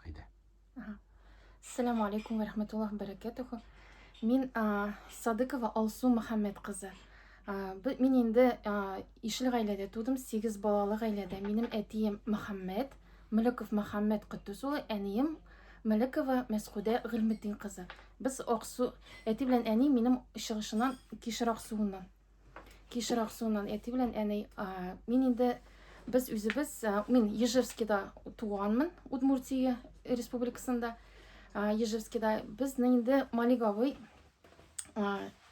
Әйдә. Ассаламу алейкум ва рахматуллах баракатуху. Мин Садыкова Алсу Мөхәммәд кызы. Мин инде ишле гаиләдә тудым, 8 балалы гаиләдә. Минем әтием Мөхәммәд, Мөлеков Мөхәммәд Куттус улы, әнием Мөлекова Мәскүдә Гыйлметдин кызы. Без Аксу, әти белән әни минем чыгышыннан Кишер Аксуыннан. Кишер Аксуыннан әти белән әни. Мин инде без үзебез, мин Ежевскида туганмын, Удмуртия республикасында. Ежевскида безнең инде Малиговый.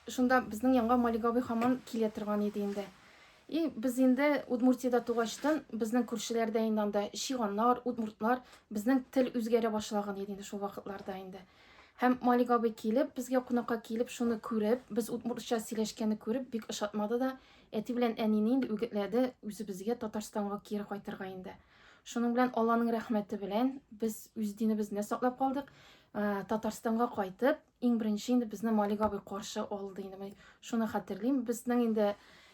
Шунда безнең янга Малиговый хаман килә торган иде инде. И без инде Удмуртияда тугачтан безнең күршеләрдә инде анда шиганнар, удмуртлар, безнең тел үзгәрә башлаган иде инде шул вакытларда инде. Һәм Малик абый килеп, безгә кунакка килеп, шуны күреп, без удмуртча сөйләшкәнне күреп, бик ошатмады да, әти белән әнине инде үгетләде, үзебезгә Татарстанга кире кайтырга инде. Шуның белән Алланың рәхмәте белән без үз динебезне саклап калдык. Ә, Татарстанга кайтып, иң беренче инде безне Малик абый каршы алды инде. Мин шуны хәтерлим. Безнең инде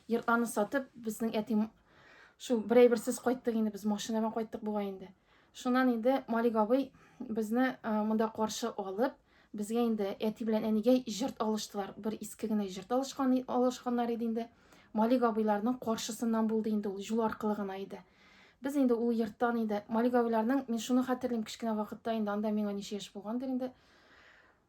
йортларны сатып, безнең әти шул берәй берсез кайттык инде, без машина белән кайттык бугай инде. Шуннан инде Малик абый безне монда каршы алып, безгә инде әти белән әнигә җырт алыштылар. Бер иске генә җырт алышкан алышканнар иде инде. Малик абыйларның каршысыннан булды инде ул, юл аркылы гына иде. Без инде ул йорттан инде Малик абыйларның, мин шуны хәтерлим, кечкенә вакытта инде анда миңа ничә яшь булгандыр инде.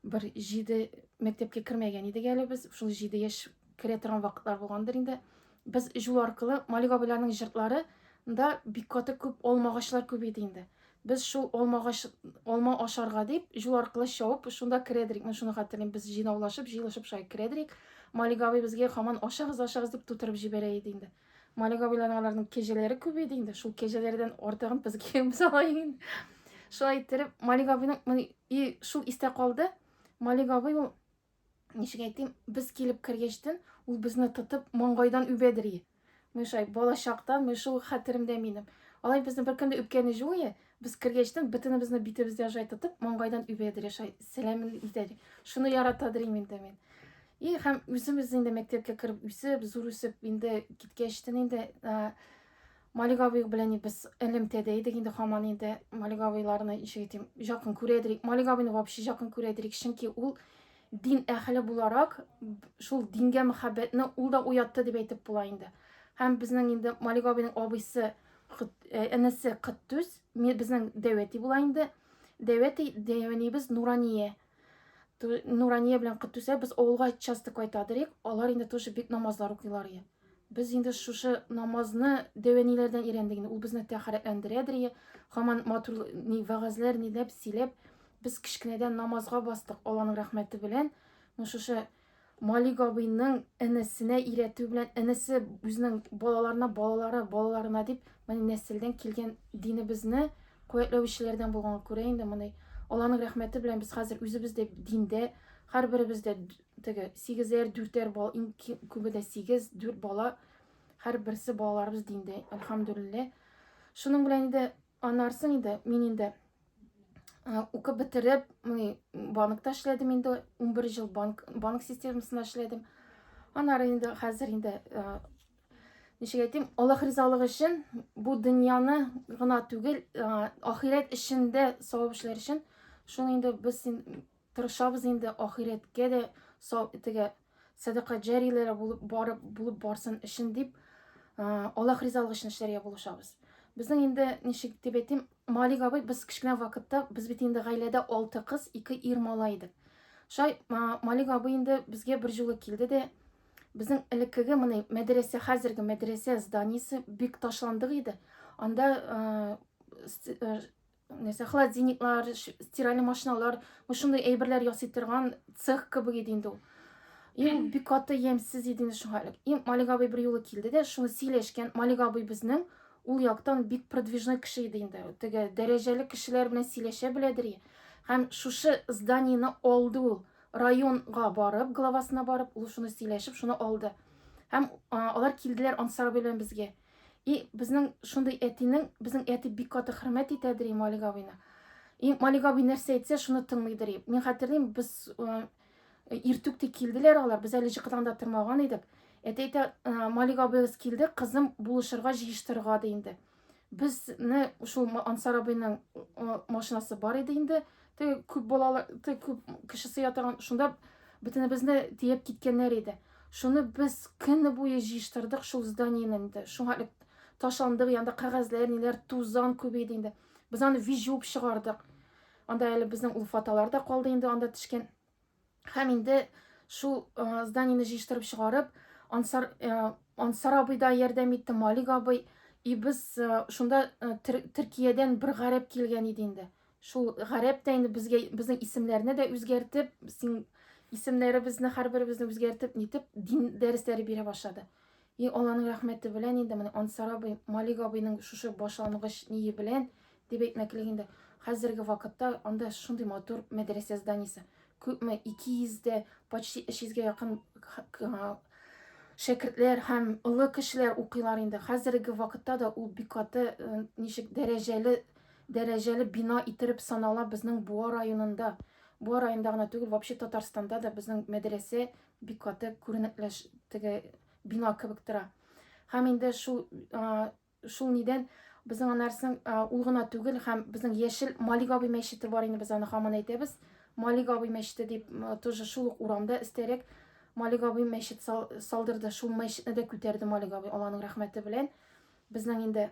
Бер җиде мәктәпкә кермәгән идек әле без. Шул җиде яшь керә торган вакытлар булгандыр инде. Без җул аркылы Малик абыйларның җыртлары да бик каты күп алма агачлар күп иде инде. Без шул алма агач алма ашарга дип җул аркылы чавып шунда керәдерик. Мин шуны хәтерлим. Без җыйнаулашып, җыелышып шулай керәдерик. Малик абый безгә хаман ашагыз, ашагыз дип тутырып җибәрә иде инде. Малик абыйларның аларның кәҗәләре күбәйде инде. Шул кәҗәләрдән артыгын безгә йөз алайын. Шулай иттереп, Малик абыйның и шул истә калды. Малик абый ул ничек әйтим, без килеп кергәчтен ул безне тотып маңгайдан үбәдери. Мен шулай балачактан, мен шул хәтеремдә минем. Алай безне бер көндә үпкәне җуе, без кергәчтен бөтенебезне битебездә жай тотып маңгайдан үбәдери, шулай сәламен итәдер. Шуны яратадыр инде мин. И һәм үзебез инде мәктәпкә кереп үсеп, зур үсеп инде киткәч тен инде Малик абый белән без элемтәдә идек инде һаман инде Малик абыйларны ничек әйтим, якын күрә идек. Малик абыйны вообще якын күрә идек, чөнки ул дин әһеле буларак шул дингә мәхәббәтне ул да уятты дип әйтеп була инде. Һәм безнең инде Малик абыйның абыйсы энесе Кыттүз, безнең дәвәти була инде. Дәвәти дәвәнибез Нурания. Нурания белән Кытүсә без авылга часто кайтадыр идек. Алар инде тоже бик намазлар укыйлар иде. Без инде шушы намазны дәвәниләрдән өйрәндек. Ул безне тәхәрәтләндерәдер иде. Хаман матур ни вагазлар ни дип сөйләп, без кечкенәдән намазга бастык. Алланың рәхмәте белән, ну шушы Малик абыйның энесенә өйрәтү белән энесе үзенең балаларына, балалары, балаларына дип, менә нәселдән килгән динебезне куәтләүчеләрдән булганга күрә инде моны Алланың рәхмәте белән без хәзер үзебез дә диндә, һәрберебез дә теге сигезәр, дүртәр бал, иң күбе дә сигез, дүрт бала, һәрберсе балаларыбыз диндә, альхамдулиллә. Шуның белән инде Анарсың инде, мин инде укып бетереп, мыни банкта эшләдем инде, 11 жыл банк, банк системасында эшләдем. Анары инде хәзер инде ничек әйтим, Аллаһ ризалыгы өчен бу дөньяны гына түгел, ахирәт эшендә савап эшләр өчен шуны инде без Тырышабыз инде ахирәткә дә сау итегә, сәдака җәриләре булып барып булып барсын өчен дип, Аллаһ ризалыгы өчен эшләргә булышабыз. Безнең инде ничек дип әйтим, Малик абый без кечкенә вакытта без бит инде гаиләдә 6 кыз, 2 ир малай идек. Шай Малик абый инде безгә бер җулы килде дә безнең элеккеге моны мәдрәсә, хәзерге мәдрәсә зданиесе бик ташландык иде. Анда нәрсә холодильниклар стиральный машиналар шундай әйберләр ясый торган цех кебек иде инде ул ул бик каты ямьсез иде инде шуңа элек и малик абый бер юлы килде дә шуны сөйләшкән малик абый безнең ул яктан бик продвижной кеше иде инде теге дәрәҗәле кешеләр белән сөйләшә беләдер һәм шушы зданиены алды ул районга барып главасына барып ул шуны сөйләшеп шуны алды һәм алар килделәр ансар белән безгә И безнең шундый әтинең, безнең әти бик каты хөрмәт итәдер и Малик абыйны. И Малик абый нәрсә әйтсә, шуны тыңлыйдыр и. Мин хәтерлим, без э, иртүк тик килделәр алар, без әле җыкыдан да тормаган идек. Әти әйтә, э, Малик абыегыз килде, кызым булышырга җыештырырга ди инде. Безне шул Ма- Ансар абыйның э, машинасы бар иде инде, Теге күп балалы, теге күп кеше сыя торган, шунда бөтенебезне тиеп киткәннәр иде. Шуны без көне буе җыештырдык шул зданиене инде. Шуңа элек ташландык, янда кәгазьләр, ниләр, тузан күбәйде инде. Без аны вижуып чыгардык. Анда әле безнең ул фотолар да калды инде, анда төшкән. Һәм инде шул зданиене җыештырып чыгарып, Ансар, Ансар абый да ярдәм итте, Малик абый. И без шунда Төркиядән бер гарәп килгән иде инде. Шул гарәп тә инде безгә безнең исемнәрне дә үзгәртеп, син исемнәребезне һәрберебезне үзгәртеп, нитеп дин дәресләре бирә башлады. И Алланың рәхмәте белән инде менә Ансар абый, Малик абыйның шушы башлангыч ние белән, дип әйтмәклек инде, хәзерге вакытта анда шундый матур мәдрәсә зданиесе, күпме, 200 дә, почти 300 гә якын шәкертләр һәм олы кешеләр укыйлар инде. Хәзерге вакытта да ул бик каты э, ничек дәрәҗәле дәрәҗәле бина иттереп санала безнең Буа районында. Буа районында гына түгел, вообще Татарстанда да безнең мәдрәсә Бик каты күренекләш теге бина кебек тора. Һәм инде шул шул нидән безнең анарсың ул гына түгел һәм безнең яшел Малик абый мәчете бар инде без аны һаман әйтәбез. Малик абый мәчете дип тоже шул ук урамда истәрәк Малик абый мәчет салдырды. Шул мәчетне дә күтәрде Малик абый Алланың рәхмәте белән. Безнең инде